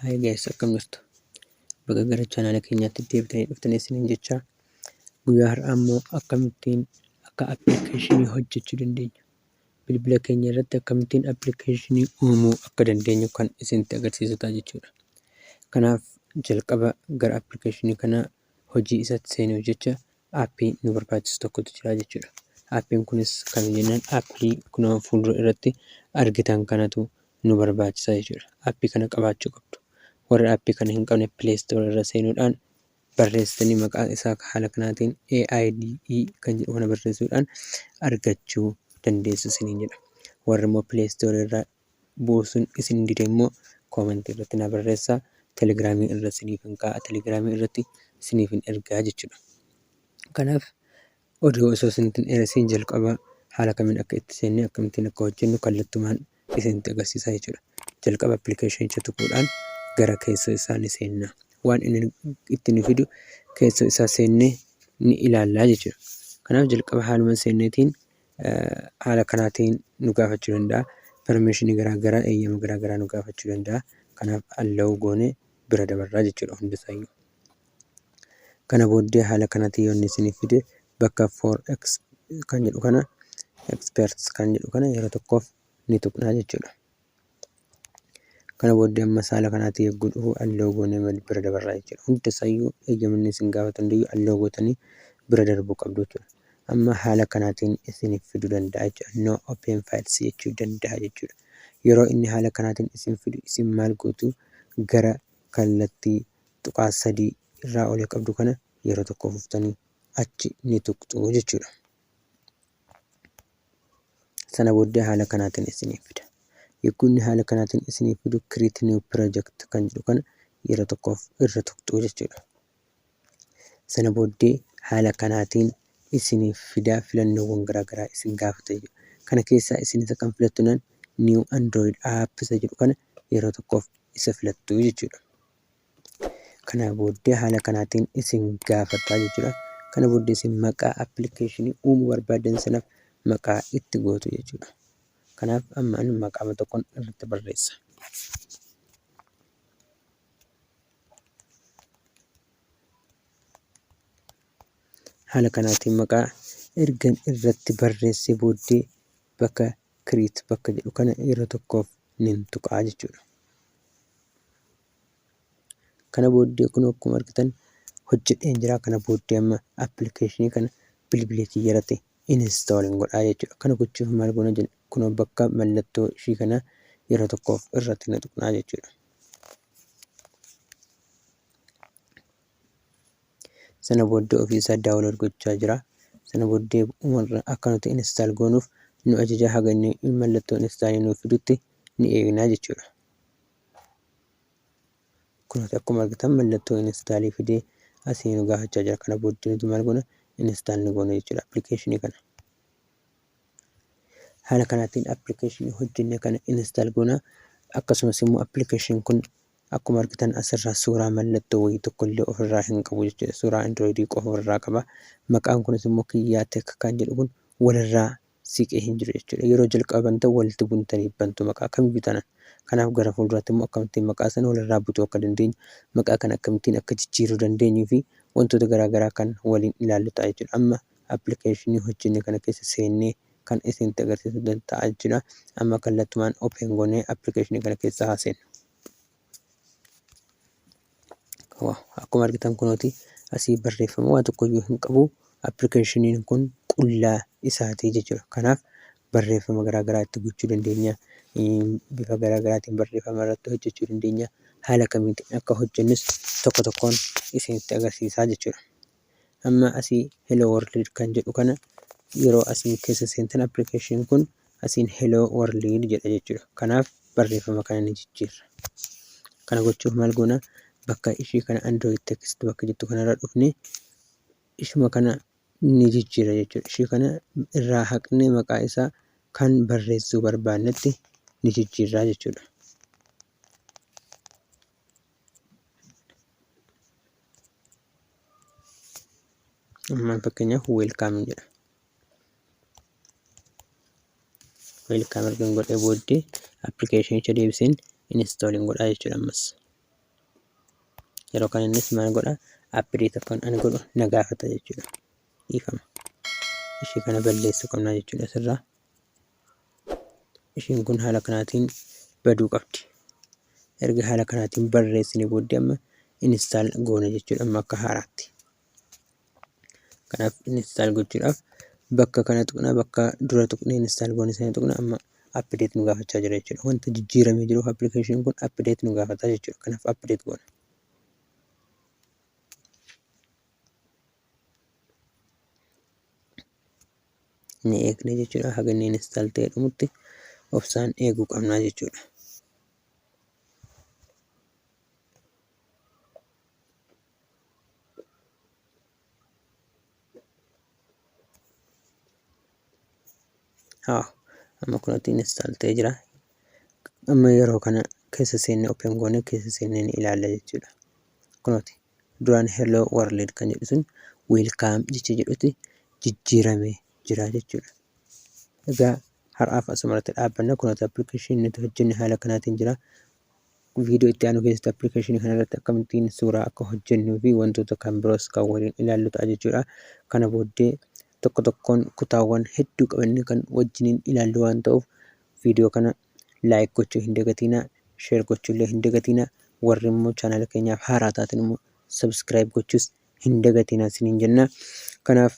Hi guys, akkam jirtu? Baga gara chaanaala keenyaatti deebitanii dhuftanii isiniin jecha guyyaa har'aa immoo akkamittiin akka appilikeeshinii hojjechuu dandeenya bilbila keenya irratti akkamittiin appilikeeshinii uumuu akka dandeenyu kan isinitti agarsiisu ta'a jechuudha. Kanaaf jalqaba gara appilikeeshinii kanaa hojii isaatti seenuuf jecha appii nu barbaachisu tokkotu jira jechuudha. Appiin kunis kan jennaan appii kunoo fuuldura irratti argitan kanatu nu barbaachisa jechuudha. Appii kana qabaachuu qabdu. Warri appii kana hin qabne Play Store irra seenuudhaan barreessitanii maqaa isaa haala kanaatiin AIDE kan jedhu kana barreessuudhaan argachuu dandeessu isiniin jedha. Warri immoo Play Store irraa buusun isin dide immoo comment irratti na barreessa telegramii irra isiniifin kaa'a telegramii irratti isiniifin ergaa jechuudha kanaaf odoo osoo isinittin dheeressiin jalqaba haala kamiin akka itti seennee akkamittiin akka hojjennu kallattumaan isinitti agarsiisa jechuudha jalqaba appilikeeshinicha tuquudhaan gara keessoo isaa ni seenna waan inni itti nu fidu keessoo isaa seennee ni ilaallaa jechuudha kanaaf jalqaba haaluma seenneetiin haala kanaatiin nu gaafachuu danda'a. Permission garaa garaa, eeyyama garaa garaa nu gaafachuu danda'a. Kanaaf allow goone bira dabarraa jechuudha hundisaayyuu. Kana booddee haala kanaatiin yoo inni isiniif fide bakka for ex kan jedhu kana experts kan jedhu kana yeroo tokkoof ni tuqnaa jechuudha. Kana booddee amma saala kanaatti yogguu dhufu alloo goonee mali bira dabarraa jechuudha. Hunda isaayyuu eeyyamni isin gaafatu hundayyuu alloo gootanii bira darbuu qabdu jechuudha. Amma haala kanaatiin isiniif fiduu danda'a jechuudha. No open files jechuu danda'a jechuudha. Yeroo inni haala kanaatiin isin fidu isin maal gootu gara kallattii tuqaa sadii irraa olee qabdu kana yeroo tokko fuftanii achi ni tuqxu jechuudha. Sana booddee haala kanaatiin isiniif fida. Yogguu inni haala kanaatiin isiniif fidu create new project kan jedhu kana yeroo tokkoof irra tuqxuu jechuudha. Sana booddee haala kanaatiin isiniif fida filannoowwan garaagaraa isin gaafata jechuudha. Kana keessaa isin isa kam filattu nan new android app isa jedhu kana yeroo tokkoof isa filattu jechuudha. Kana booddee haala kanaatiin isin gaafataa jechuudha. Kana booddee isin maqaa appilikeeshinii uumuu barbaadan sanaaf maqaa itti gootu jechuudha. Kanaaf amma ani maqaama tokkon irratti barreessa. Haala kanaatiin maqaa ergan irratti barreessee booddee bakka create bakka jedhu kana yeroo tokkoof nin tuqaa jechuudha. Kana booddee kun akkuma argitan hojjedheen jira. Kana booddee amma appilikeeshinii kana bilbila kiyya irratti install hin godhaa jechuudha. Kana gochuuf maal goona jenna? Kun bakka mallattoo ishii kana yeroo tokkoof irratti ni tuqnaa jechuudha. sana booddee ofiisaa daawunlood gochaa jira sana booddee umarra akka nuti instaal goonuuf nu ajaja haga inni mallattoo instaalii nuuf fidutti ni eegnaa jechuudha kunis akkuma argitan mallattoo instaalii fidee asii nu gaafachaa jira kana booddee nuti maal goona instaal ni goona jechuudha appilikeeshinii kana haala kanaatiin appilikeeshinii hojjenne kana instaal goona akkasumas immoo appilikeeshin kun Akkuma argitan asirraa suuraa mallattoo wayii tokkollee ofirraa hin qabu jechuudha. Suuraa Android qofa ofirraa qaba. Maqaan kunis immoo Kiyyaa Tech kan jedhu kun walirraa siqee hin jiru jechuudha. Yeroo jalqaba bantan walitti buntanii bantu maqaa kamiyyuu taanaan. Kanaaf gara fuulduraatti immoo akkamittiin maqaa sana walirraa butuu akka dandeenyu, maqaa kana akkamittiin akka jijjiiruu dandeenyuu fi wantoota garaa garaa kan waliin ilaallu ta'a jechuudha. Amma appilikeeshinii hojjenne kana keessa seennee kan isinitti agarsiisu ta'a jira. Amma kallattumaan open goonee application kana keessa haa seennu. Akkuma argitan kunooti asii barreeffama waa tokkoyyuu hin qabu. Appilikeeshiniin kun qullaa isaatii jechuudha. Kanaaf barreeffama garaagaraa itti gochuu dandeenya. Bifa garaagaraatiin barreeffama irratti hojjechuu dandeenya. Haala kamiitiin akka hojjennus tokko tokkoon isinitti agarsiisaa jechuudha. Amma asii hello world kan jedhu kana yeroo asiin keessa seentan application kun asiin hello world jedha jechuudha. Kanaaf barreeffama kana ni jijjiirra. Kana gochuuf maal goona? Bakka ishii kana android text bakka jettu kanarra dhufne ishuma kana ni jijjiirra jechuudha. Ishii kana irraa haqne maqaa isaa kan barreessuu barbaannetti ni jijjiirraa jechuudha. Ammaan fakkeenyaaf weelkaam jedha. Weelkaam ergan godhee booddee appilikeeshinicha deebiseen inistooliin godhaa jechuudha ammas. Yeroo kana innis maal godha appideet akka ani godhu na gaafata jechuudha. Dhiifama. Ishee kana balleessuu qabna jechuudha asirraa. ishiin kun haala kanaatiin baduu qabdi. Erga haala kanaatiin barreessine booddee amma install goona jechuudha amma akka haaraatti. Kanaaf install gochuudhaaf bakka kana tuqna bakka dura tuqne install goone sana tuqna amma update nu gaafachaa jira jechuudha. Wanta jijjiiramee jiruuf application kun update nu gaafata jechuudha. Kanaaf update goona. ni eegna jechuudha haga inni install ta'ee dhumutti obsaan eeguu qabnaa jechuudha. Haa amma kunatti install ta'ee jira. Amma yeroo kana keessa seennee open goonee keessa seennee ni ilaalla jechuudha. Kunooti duraan hello world kan jedhu sun welcome jecha jedhutti jijjiirame jira jechuudha. Egaa har'aaf asumarratti dhaabbanna kunoota appilikeeshinii nuti hojjenne haala kanaatiin jira. Viidiyoo itti aanu keessatti appilikeeshinii kanarratti akkamittiin suuraa akka hojjennuu fi wantoota kan biroos kan waliin ilaallu ta'a jechuudha. Kana booddee tokko tokkoon kutaawwan hedduu qabannee kan wajjiniin ilaallu waan ta'uuf video kana like gochuu hin dagatiina share gochuu illee hin dagatiina warri immoo channel keenyaaf haaraa taatin immoo subscribe gochuus hin dagatiina isiniin jenna kanaaf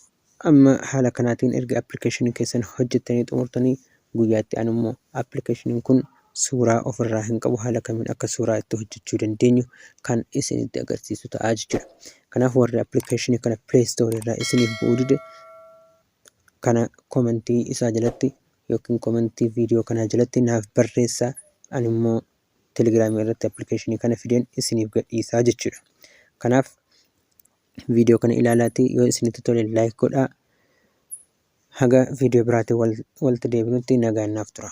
amma haala kanaatiin erga application keessan hojjettanii xumurtanii guyyaatti an immoo application kun suuraa ofirraa hin qabu haala kamiin akka suuraa itti hojjechuu dandeenyu kan isinitti agarsiisu ta'aa jechuudha kanaaf warri application kana play store irraa isiniif bu'uu dide kana comment isaa jalatti yookiin comment video kanaa jalatti naaf barreessa ani immoo telegram irratti application kana fideen isiniif gadhiisaa jechuudha kanaaf video kana ilaalaati yoo isinitti tole like godhaa haga video biraatiin wal- walti deebinutti nagaan naaf tura